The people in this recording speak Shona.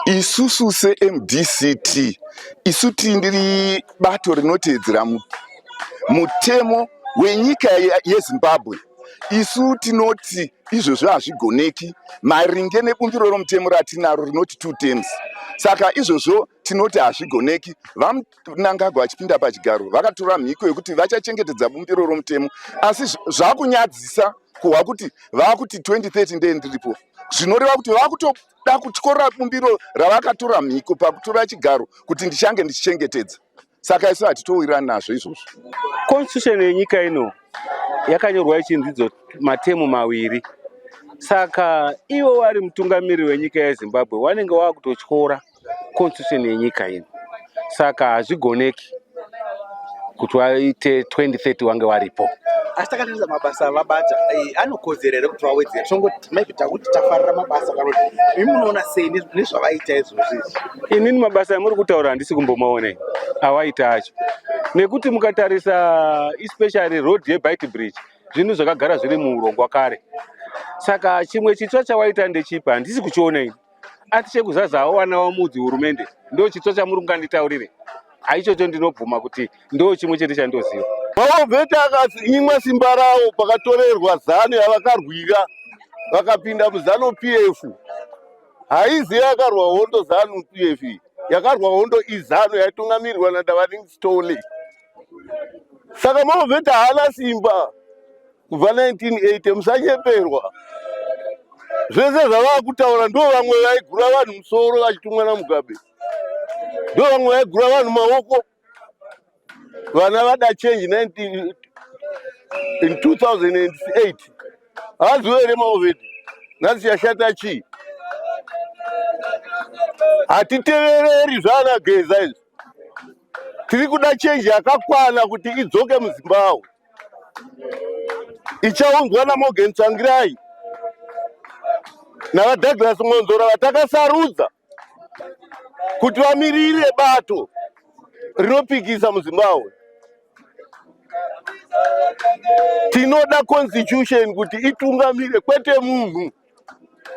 Isusu seMDCT isu tindiri bato rinoteedzera mutemo wenyika yeZimbabwe isu tinoti izvozvo hazvigoneki maringe nebumbiro romutemo ratinaro rinoti two terms saka izvozvo tinoti hazvigoneki vamnangagwa vachipinda pachigaro vakatora mhiko yekuti vachachengetedza bumbiro romutemo asi zvakunyadzisa kuhwa kuti vava kuti 2030 ndee ndiripo zvinoreva kuti vava dakutyora bumbiro ravakatura mhiko pakutura chigaro kuti ndichange ndichichengetedza saka isu hatitowirani nazvo izvozvo constitution yenyika ino yakanyorwa ichinzidzo matemu maviri saka ivo vari mutungamiriri wenyika yezimbabwe wanenge wakutotyora constitution yenyika ino saka hazvigoneki kuti waite 2030 wange waripo asi takatarisa mabasa avabata eh, anokodzera here kuti vawedzera tongoti maybe takuti tafarira mabasa kana kuti imi munoona sei nezvavaita izvozvo izvi inini mabasa amuri kutaura handisi kumbomaonei awaita acho nekuti mukatarisa especially road yebite bridge zvinhu zvakagara zviri muurongwa kare saka chimwe chitsva chawaita ndechipa handisi kuchiona ini ati chekuzaza awana wamudzi hurumende ndo chitsva chamuri kunganditaurire aichocho ndinobvuma kuti ndo chimwe chete chandoziva maovheti akanyimwa simba rawo pakatorerwa zanu yavakarwira vakapinda muzanu p f haizi yakarwa hondo zanu p f yakarwa hondo izanu yaitungamirirwa nadavaringstone saka maovheti haana simba kubva 1980 musanyeperwa zvese zvavakutaura ndo vamwe vaigura vanhu musoro vachitumwa namugabe ndo vamwe vaigura vanhu maoko vana vada change 19 in 2008 haaziwo here maovedi nhasi yashata chii hatitevereri zvaana geza izvi tiri kuda chenji yakakwana kuti idzoke muzimbabwe ichaunzwa namorgan tsvangirai navadouglas mwonzora vatakasarudza kuti vamirire bato rinopikisa muzimbabwe tinoda constitution kuti itungamire kwete munhu